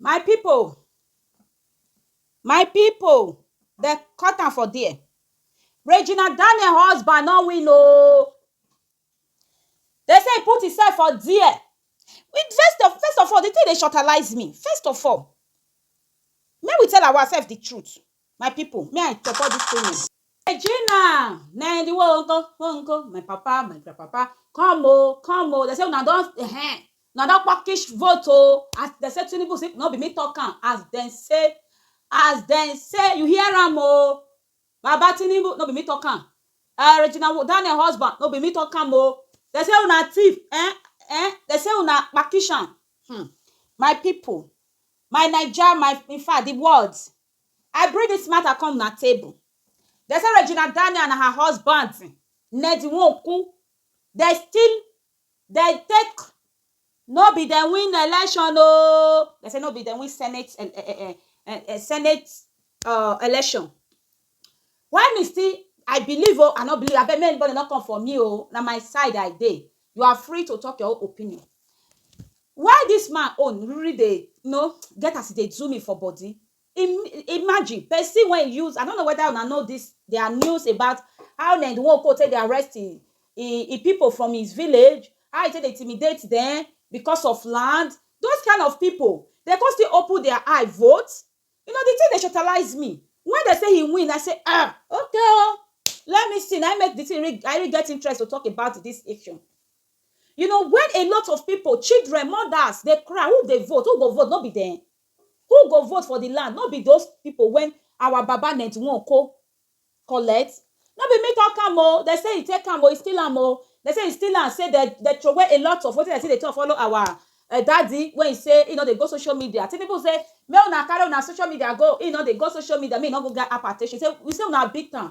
My pipu, my pipu dem cut am for there, Regina Daniel husband no win oh, Dem say e put himself for there first of all di tin dey shortalize me first of all make we tell ourselves di truth my pipu me I support dis statement Regina na e di one nko one nko my papa my grand papa come o come o dem say una don ehen una don pukish vote o as dem say Tinubu no be me talk am as dem say as dem say you hear am o Baba Tinubu no be me talk am eh Regina Daniel husband no be me talk am o dem say una thief eh eh dem say una kpakishan hmm my people my naija my infact the world I bring this matter come una table dem say Regina Daniel and her husband Ned Nwoko dem steal Dem take no be dem win election oo dem say no be dem win senate um senate um election why me still I believe oo I no believe abeg make anybody no come for me oo na my side I dey you are free to talk your own opinion why this man own really dey you know get as e dey do me for body Im imagine pesin wey e use, I no know whether una know dis their news about how Ned Nwoko take dey arrest im im pipu from his village, how e take dey intimidate dem because of land. Those kind of pipu, dem come still open their eye vote? You know, the thing dey shortalize me. When dem say he win, I say um okay o, let me see. Na im make the thing really I really get interest to talk about dis issue. You know when a lot of pipu, children, mothers dey cry, who dey vote? Who go vote? No be dem. Who go vote for the land no be those people wen our baba ninety one ko collect no be me talk am o dem say e take am o e steal am o dem say e steal am say dem dem throway a lot of wetin dem still dey talk follow our daddy wey he say he no dey go social media Tinubu say make una carry una social media go he no dey go social media make he no go get hypertension he say una beat am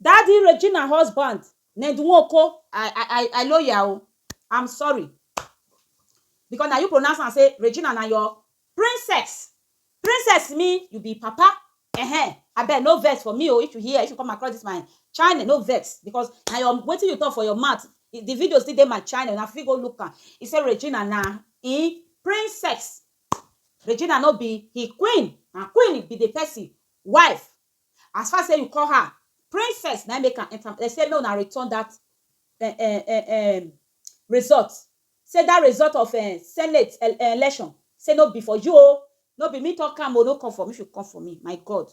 Daddy Regina husband Ned Nwoko I I I loyal o I'm sorry because na you pronounce am say Regina na your princess princess mean you be papa ehen abeg no vex for me o if you hear if you come across this my channel no vex because na your wetin you talk for your mouth the video still dey my channel na fit go look am he say Regina na him princess Regina no be him queen na queen be the person wife As far sey you call her princess na im make am enter am. Dem say make una return dat um um um result. Sey dat result of um senate um election sey no be for you oh. No be me talk am oh. No come for me. If you come for me, my God.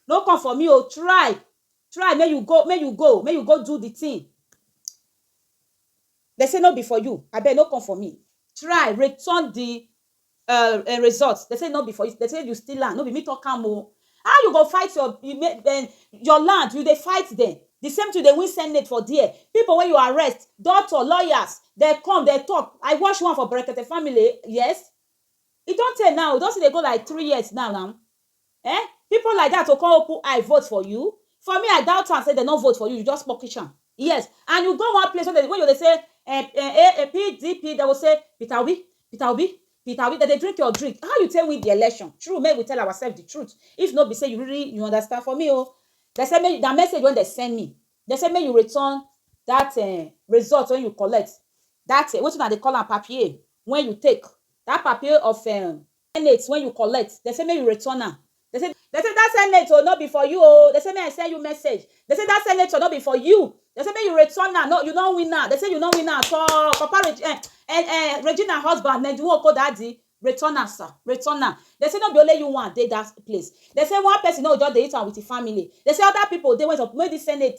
No come for me oh. Try try make you go make you go make you go do the thing. Dem say no be for you. Abeg no come for me. Try return the um um result dem say no be for you dem say you steal am no be me talk am o how you go fight your um your land you dey fight dem the same thing dey win senate for there people wey you arrest doctor lawyers dem come dem talk i watch one for brekete family yes e don tey now e don still dey go like three years now now Eh people like that o come open eye vote for you? For me I doubt am say dem no vote for you, you just pukish am. Yes and you go one place wey you go dey say um um PDP dem go say Peter Obi, Peter Obi, Peter Obi dem dey drink your drink. How you take win the election? True make we tell ourselves the truth if no be say you really you understand for me o dem say make na message wey dem send me dem say make you return that um result wey you collect that wetin una dey call am papier wey you take that papier of um Senate wen you collect, dem say make you return am. Dem say. Dem say dat senate o, no be for you o. Dem say make I send you message. Dem say dat senator no be for you. Dem say make you return am, no you no win am. Dem say you no win am at all. Papa Regi eh eh eh Regina husband Ned Nwoko daddy, return am sir, return am. Dem say no be only you one dey dat place. Dem say one person no go just dey eat am with im family. Dem say other people dey wey suppose make dis senate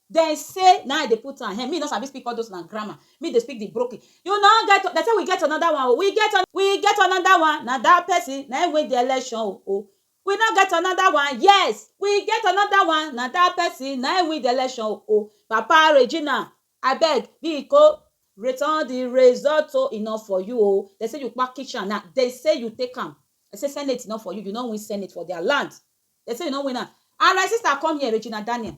Dem say na I dey put am, me no sabi speak all those una grammar, me dey speak the broken, you no get, dem say we get another one o, we get another, we get another one, na that person na him win the election o, we no get another one, yes, we get another one, na that person na him win the election o, papa Regina abeg biko return the result o, e no for you o, dem say you package am na, dem say you take am, dem say senate no for you, you no win senate for their land, dem say you no win am and my sister come here Regina Daniel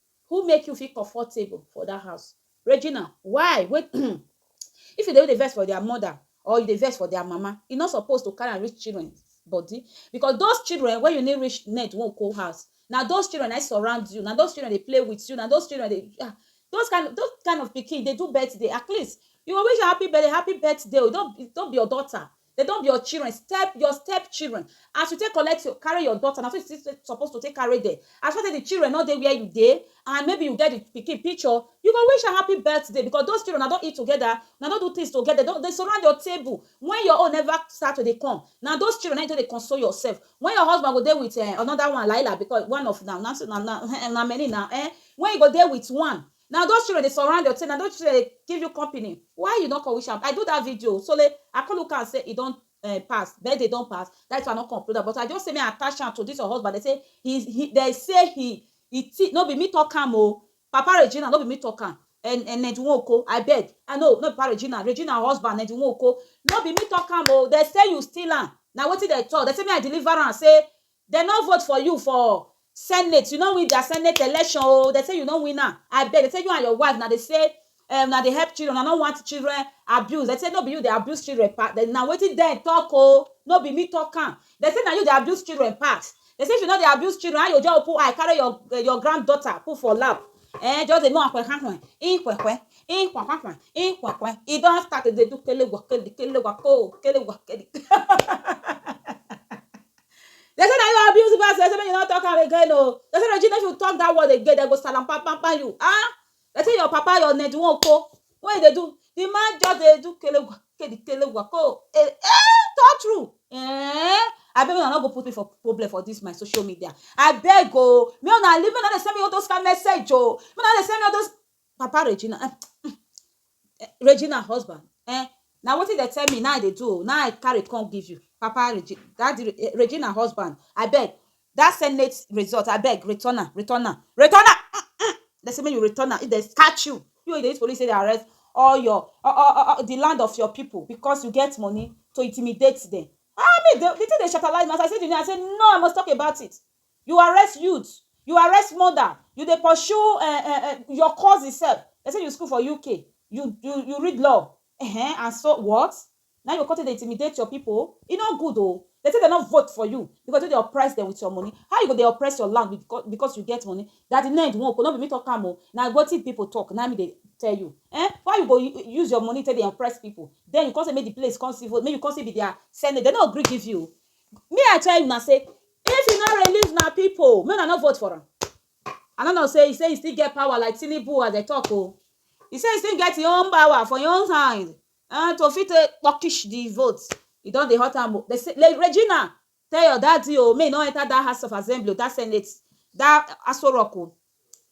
Who make you feel comfortable for that house? Regina, why? Wait, if you dey vex for their mother or you dey vex for their mama, e no suppose to carry am reach children body because those children wey you need reach net wan go house, na those children na surround you, na those children dey play with you, na those children dey ah, those kind of those kind of pikin dey do birthday at least you go wish am happy birthday, happy birthday o, e don be your daughter, Dem don be your children, step your step children. As you take collect your carry your daughter, na so you still suppose to take carry dem. As far sey the children no dey where you dey and maybe you get the pikin picture, you go wish am happy birthday because those children una don eat together, una don do things together, dem don dey surround your table when your own never start to dey come. Na those children na im you take dey console yourself. When your husband go dey with um another one laila because one of na na na na many na um. When you go dey with one, Na those children dey surround your thing, na those children dey give you company, why you no come wish am? I do that video o, sole I come look am say e don um pass, birthday don pass, that is why I no come upload am, but I just say make I attach am to this your husband, dem say he is he dem say he he thi no be me talk am o, Papa Regina no be me talk am, en en Ned Nwoko abeg, ah no no be Papa Regina, Regina husband Ned Nwoko, no be me talk am o, dem say you steal am, na wetin dem talk, dem say make I deliver am say Dem no vote for you for senate, you no win their senate election oo, dem say you no win am, abeg dem say you and your wife una dey say um una dey help children, una no want children abuse, dem say no be you dey abuse children pass, dem na wetin dem talk oo, no be me talk am, dem say na you dey abuse children pass, dem say if you no dey abuse children how you go just open eye carry your your grand daughter put for lap um just dey make una ikwekwe, ikwakwa, ikwekwe, e don start to dey do kele gwa kele, kele gwa koo, kele gwa kele um They say that you abuse us. They say you not talk again. Oh, they say Regina, if you talk that word again, they go salam pam pam pam you. Ah, they say your papa, your net won't go. What they do? The man just they do kelegwa, kedi kelegwa ko. Eh, eh, talk true. Eh, I beg you not go put me for problem for this my social media. I beg oh, me on a living on the send me all those kind message oh, me on the send me all those Papa Regina um um Regina husband um na wetin dem tell me na I dey do o, na I carry come give you. Papa Regina, Daddy Regina husband abeg dat senate result abeg return am, return am, return am um dem say make you return am if dem catch you, you wey you dey use police take dey arrest all your um di land of your people because you get money to intimidate dem um di thing dey shatalize me as I see di name I say no I must talk about it You arrest youth, you arrest mother, you dey pursue um um um your cousin sef, dem sey you school for UK, you you you read law um and so what? Na im you go come take dey intimidate your pipu? E no good o, dem sey dem no vote for you because you take dey oppress dem with your money, how you go dey oppress your land becau because you get money? That di ned nwoko, no be me talk am o, na wetin pipu talk na im me dey tell you um why you go use your money take dey oppress pipu, den you come sey make di place come civil, make you come sey be their senate, dem no gree give you o, me I tell una say if you no release una people make una no vote for am I no know say he say he still get power like Tinubu as they talk o oh. he say he still get his own power for his own hand uh, to fit take puckish the vote he don dey hurt am o they say like Regina tell your daddy o oh, may he no enter that house of assembly that senate that Aso Rock o oh.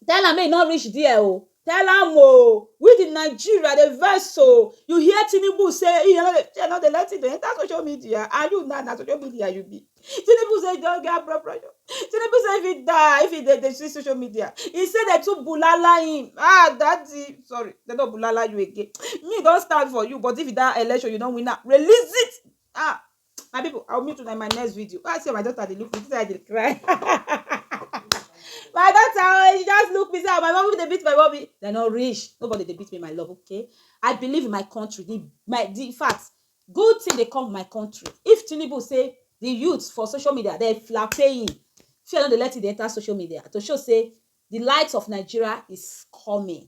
Tell am make e no reach there o. Tell am o. We the Nigeria dey vex o. You hear Tinubu say he no dey he no dey let him dey enter social media and you now na social media you be. Tinubu say he don get blood pressure. Tinubu say if he die, if he dey dey see social media, he say they too bulala him. Ah, daddy, sorry, they no bulala you again. Me don stand for you, but if that election you no win am, release it. Ah, my people i will meet you in my next video i see my daughter dey look me say i dey cry my daughter oh she just look me say ah, my mommy dey beat my mommy they no reach nobody dey beat me my love okay i believe in my country the my the in fact good thing dey come my country if tinubu say the youth for social media dey flapping fear no dey let it dey enter social media to show say the light of nigeria is coming